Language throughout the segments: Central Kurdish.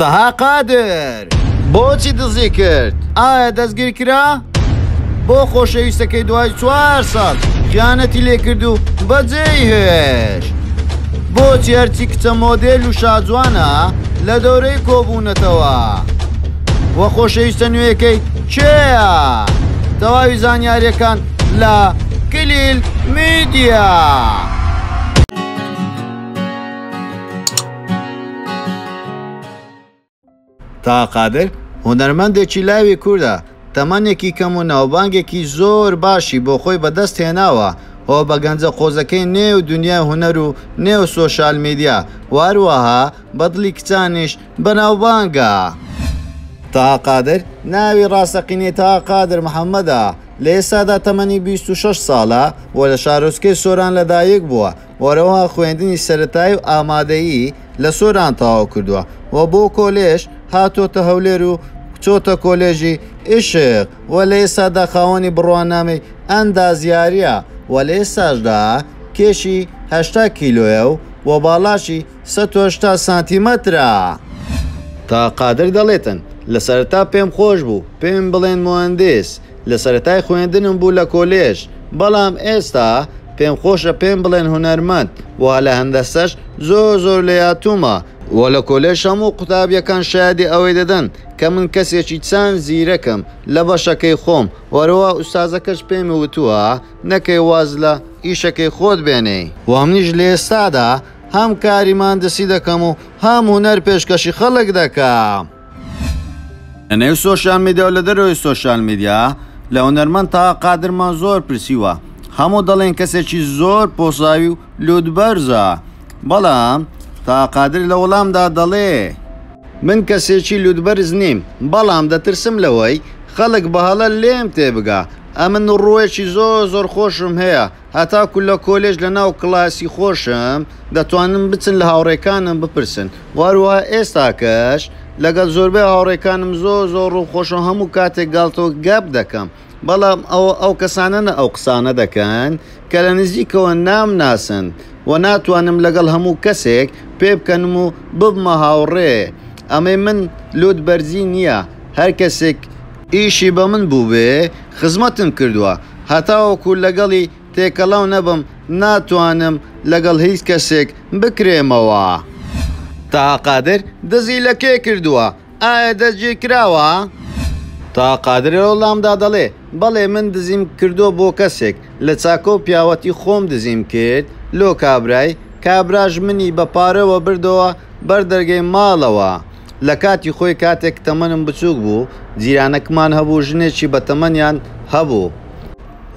تەها قادر بۆچی دزی کرد؟ ئایا دەستگیر کرا؟ بۆ خۆشەویستەکەی دوای چوار ساڵ خیانەتی لێکرد و بەجێی هێشت؟ بۆچی هەرچی کچە مۆدێل و شاجوانە لە دەورەی کۆبوونەتەوە؟ وە خۆشەویستە نوێیەکەی کێیە؟ تەواوی زانیاریەکان لە کلیل میدیا. تاها قادر، هونەرمەندێکی لاوی کوردە، تەمەنێکی کەم و ناوبانگێکی زۆر باشی بۆ خۆی بەدەست هێناوە و بە گەنجە قۆزەکەی نێو دونیای هونەر و نێو سۆشیال میدیا و هەروەها بە دڵی کچانیش بەناوبانگە. تاها قادر، ناوی ڕاستەقینەی تاها قادر محەمەدە، لە ئێستادا تەمەنی بیست و شەش ساڵە و لە شارۆچکەی سۆران لەدایکبووە، وەرەوە خوێندنی سەرەتایی و ئامادەیی لە سۆران تەواو کردووە و بۆ کۆلێژ هاتۆتە هەولێر و چۆتە کۆلێژی ئیشق و لە ئێستادا خاوەنی بڕوانامەی ئەندازیاریە و لە ئێستاشدا کێشی هەشتا کیلۆیە و باڵاشی سەد و هەشتا سانتیمەترە. تا قادر دەڵێتن لە سەرەتا پێم خۆش بوو پێم بڵێن موهەندیس لە سەرەتای خوێندنم بوو لە کۆلێژ بەڵام ئێستا پێم خۆشە پێم بڵێن هونەرمەند وە لە هەندەسەش زۆر زۆر لێهاتوومە وە لە کۆلێژ هەموو قوتابیەکان شایەدی ئەوەی دەدەن کە من کەسێکی چەند زیرەکم لە بەشەکەی خۆم وە هەروا ئوستازەکەش پێمی وتووە نەکەی واز لە ئیشەکەی خۆت بێنێی وە منیش لە ئێستادا هەم کاری ماندسی دەکەم و هەم هونەر پێشکەشی خەڵک دەکەم. لە نێو سۆشیال میدیا و لە دەرەوەی سۆشیال میدیا لە هونەرمەند تاها قادرمان زۆر پرسیوە هەموو دەڵێن کەسێکی زۆر پۆساوی و لوت بەرزە بەڵام تاها قادر لە وەڵامدا دەڵێ، من کەسێکی لوت بەرز نیم بەڵام دەترسم لەوەی خەڵک بە هەڵە لێم تێبگا ئەمن ڕووێکی زۆر زۆر خۆشم هەیە هەتاکو لە کۆلێژ لە ناو کلاسی خۆشم دەتوانن بچن لە هاوڕێکانم بپرسن وە هەروەها ئێستاکەش لەگەل زۆربەی هاوڕێکانم زۆر زۆر ڕووم خۆشە و هەموو کاتێک گاڵتەو گەپ دەکەم بەڵام ئەوە ئەو کەسانەنە ئەو قسانە دەکەن کە لە نزیکەوە نامناسن وە ناتوانم لەگەڵ هەموو کەسێک پێ بکەنم و ببمە هاوڕێ ئەمەی من لوت بەرزی نیە هەر کەسێک ئیشی بە من بووبێ خزمەتم کردوە. هەتاوەکو لەگەڵی تێکەڵاو نەبم ناتوانم لەگەڵ هیچ کەسێک بکرێمەوە. تاها قادر دزی لە کێ کردووە؟ ئایا دەستگیرکراوە؟ تاها قادر لە وەڵامدا دەڵێ، بەڵێ من دزیم کردووە بۆ کەسێک، لە چاکە و پیاوەتی خۆم دزیم کرد لۆ کابرای، کابراش منی بە پارەوە بردەوە بەر دەرگەی ماڵەوە، لە کاتی خۆی کاتێک تەمەنم بچووک بوو، جیرانەکمان هەبوو ژنێکی بە تەمەنیان هەبوو،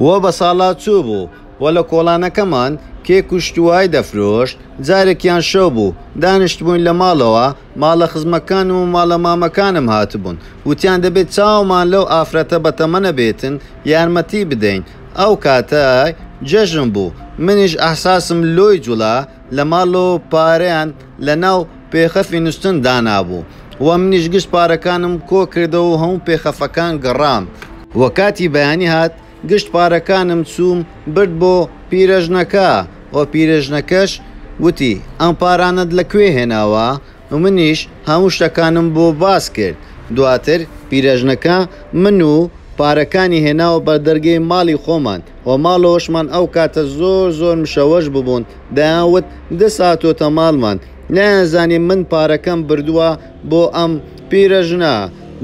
و بە ساڵا چوو بوو و لە کۆڵانەکەمان کێک و شتووای دەفرۆشت، جارێکیان شەو بوو دانیشتبووین لە ماڵەوە، ماڵە خزمەکانم و ماڵە مامەکانم هاتبوون، وتیان دەبێت چاومان لەو ئافرەتە بە تەمەنە بێتن یارمەتی بدەین، ئەو کاتە جەژن بوو، منیش ئەحساسم لۆی جوڵا، لە ماڵەوە پارەیان. لەناو پێخەفی نوستن دانابوو و منیش گشت پارەکانم کۆ کردەوە و هەموو پێخەفەکان گڕام. وە کاتی بەیانی هات گشت پارەکانم چووم برد بۆ پیرەژنەکە و پیرەژنەکەش وتی ئەم پارانەت لە کوێ هێناوە و منیش هەموو شتەکانم بۆ باس کرد دواتر پیرەژنەکە من و پارەکانی هێناوە بەردەرگەی ماڵی خۆمان و ماڵەوەشمان ئەو کاتە زۆر زۆر مشەوەش ببوون دەیان وت دەست هاتۆتە ماڵمان نەیان زانی من پارەکەم بردووە بۆ ئەم پیرە ژنە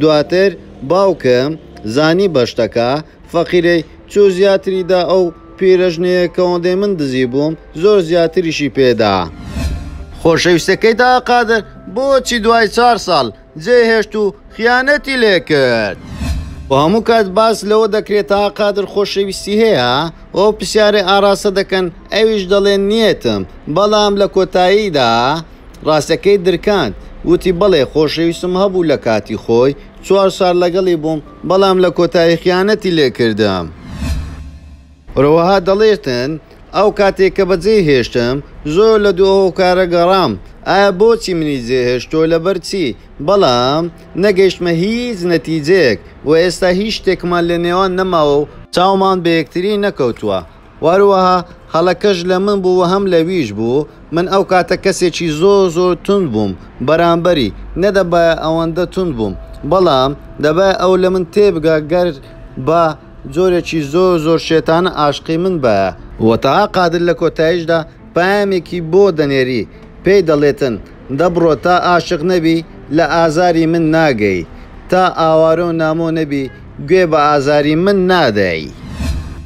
دواتر باوکم زانی بە شتەکە فەقیرەی چوو زیاتری دا ئەو پیرە ژنەیە کەوەندەی من دزی بووم زۆر زیاتریشی پێدا. خۆشەویستەکەی داقادر بۆچی دوای چار ساڵ جێهێشت و خیانەتی لێکرد. و هەموو کات باس لەوە دەکرێت تا قادر خۆشەویستی هەیە؟ و ئەو پرسیارەی ئاراستە دەکەن ئەویش دەڵێ نیەتم بەڵام لە کۆتاییدا ڕاستەکەی درکاند وتی بەڵێ خۆشەویستم هەبوو لە کاتی خۆی چوار سال لەگەڵی بووم بەڵام لە کۆتایی خیانەتی لێکردم. هەروەها دەڵێتن، ئەو کاتەی کە بەجێی هێشتم، زۆر لە دوو هۆکارە گەڕام، ئایا بۆچی منی جێ هێشت و لەبەر چی؟ بەڵام نەگەیشتمە هیچ نەتیجەیەک و ئێستا هیچ شتێکمان لە نێوان نەماوە و چاومان بە یەکتری نەکەوتووە و هەروەها هەڵەکەش لە من بوو و هەم لەویش بوو، من ئەو کاتە کەسێکی زۆر زۆر توند بووم بەرامبەری، نەدەبایە ئەوەندە توند بووم، بەڵام دەبایە ئەو لە من تێبگا گەر بە. جۆرێکی زۆر زۆر شێتانە ئاشقی من بایە. وە تەها قادر لە کۆتایشدا پەیامێکی بۆ دەنێری پێی دەڵێتن دە بڕۆ تا ئاشق نەبی لە ئازاری من ناگەی تا ئاوارەو نامۆ نەبی گوێ بە ئازاری من نادەی.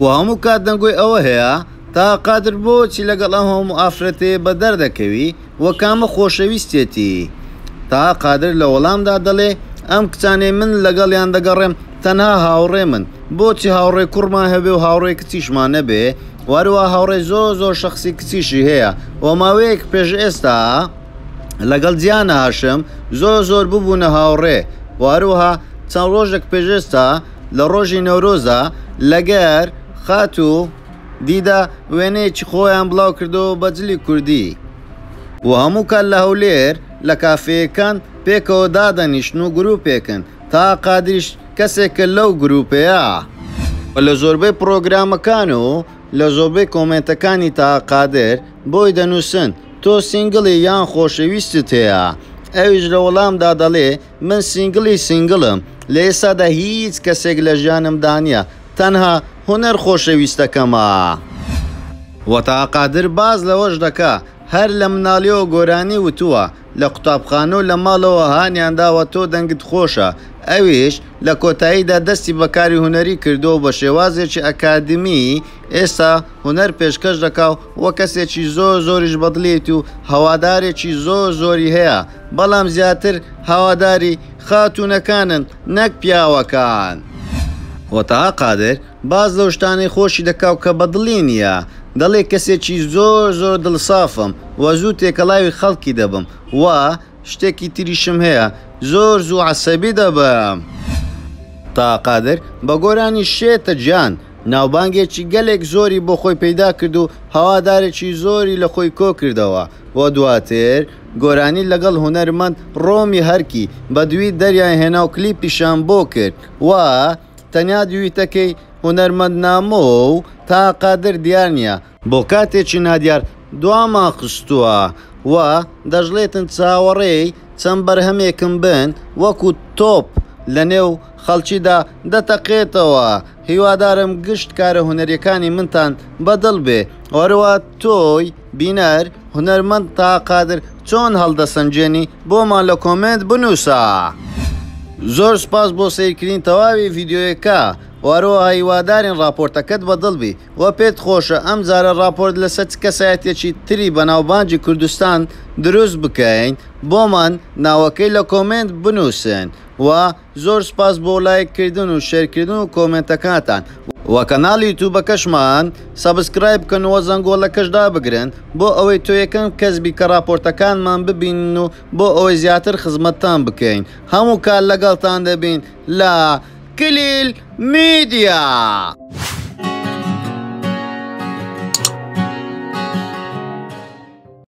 وە هەموو کات دەنگۆی ئەوە هەیە تەها قادر بۆچی لەگەڵ ئەم هەموو ئافرەتەیە بەدەر دەکەوی؟ وە کامە خۆشەویستێتی؟ تاها قادر لە وەڵامدا دەڵێ، ئەم کچانەی من لەگەڵیان دەگەڕێم تەنها هاوڕێمن، بۆچی هاوڕێی کوڕمان هەبێ و هاوڕێی کچیشمان نەبێ؟ وە هەروەها هاوڕێی زۆر زۆر شەخسی کچیشی هەیە، وە ماوەیەک پێش ئێستا لەگەڵ جیهان هاشم زۆر زۆر ببوونە هاوڕێ، وە هەروەها چەند ڕۆژێک پێش ئێستا لە ڕۆژی نەورۆزا لەگەر خاتوو. دیدە وێنەیەکی خۆیان بڵاوکردەوە بە جلی کوردی و هەموو کات لە هەولێر لە کافێیەکان پێکەوە دادەنیشن و گروپێکن، تاها قادریش کەسێکە لەو گروپەیە. و لە زۆربەی پڕۆگرامەکان و لە زۆربەی کۆمێنتەکانی تاها قادر بۆی دەنووسن تۆ سینگڵی یان خۆشەویستت هەیە؟ ئەویش لە وەڵامدا دەڵێ، من سینگڵی سینگڵم لە ئێستادا هیچ کەسێک لە ژیانمدا نیە تەنها هونەر خۆشەویستەکەمە. وەتا قادر باس لەوەش دەکا هەر لە مناڵیەوە گۆرانی وتوە لە قوتابخانەو لە ماڵەوە هانیان داوە تۆ دەنگت خۆشە ئەویش لە کۆتاییدا دەستی بە کاری هونەری کردوەو بە شێوازێکی ئەکادیمی ئێستا هونەر پێشکەش دەکاو وە کەسێکی زۆر زۆریش بەدڵیت و هەوادارێکی زۆر زۆری هەیە بەڵام زیاتر هەواداری خاتوونەکانن نەک پیاوەکان. وە تەها قادر باس لەو شتانەی خۆشی دەکاو کە بە دڵی نیە دەڵێ کەسێکی زۆر زۆر دڵ سافم وە زوو تێکەڵاوی خەڵکی دەبم وە شتێکی تریشم هەیە زۆر زوو عەسەبی دەبم. تەها قادر بە گۆرانی شێتە گیان ناوبانگێکی گەلێک زۆری بۆ خۆی پەیدا کرد و هەوادارێکی زۆری لە خۆی کۆ کردەوە وە دواتر گۆرانی لەگەڵ هونەرمەند ڕۆمی هەرکی بەدوی دەریان هێنا و کلیپیشیان بۆ کرد و تەنیا دویتەکەی هونەرمەند نامۆ و تاها قادر دیار نیە، بۆ کاتێکی نادیار دوامان خستوە و دەشڵێتن چاوەڕێی چەند بەرهەمێکم بن وەکو تۆپ لەنێو خەڵکیدا دەتەقێتەوە، هیوادارم گشت کارە هونەریەکانی منتان بەدڵ بێ و هەروا تۆی بینەر، هونەرمەند تاها قادر چۆن هەڵدەسەنگێنی بۆمان لە کۆمێنت بنووسە. زۆر سوپاس بۆ سەیرکردنی تەواوی ڤیدیۆیەکە و هەروەها هیوادارین ڕاپۆرتەکەت بە دڵ بی و پێت خۆشە ئەم جارە ڕاپۆرت لەسەر چ کەسایەتیەکی تری بەناوبانگی کوردستان دروست بکەین بۆمان ناوەکەی لە کۆمێنت بنووسن و زۆر سپاس بۆ لایک کردن و شێر کردن و کۆمێنتەکاتان. وە کەناڵ یوتوبەکەشمان سەبسکرایب بکەن وە زەنگۆڵەکەش دابگرن بۆ ئەوەی تۆ یەکەم کەس بی کە ڕاپۆرتەکانمان ببینن و بۆ ئەوەی زیاتر خزمەتتان بکەین هەموو کات لەگەڵتان دەبین لە کلیل میدیا.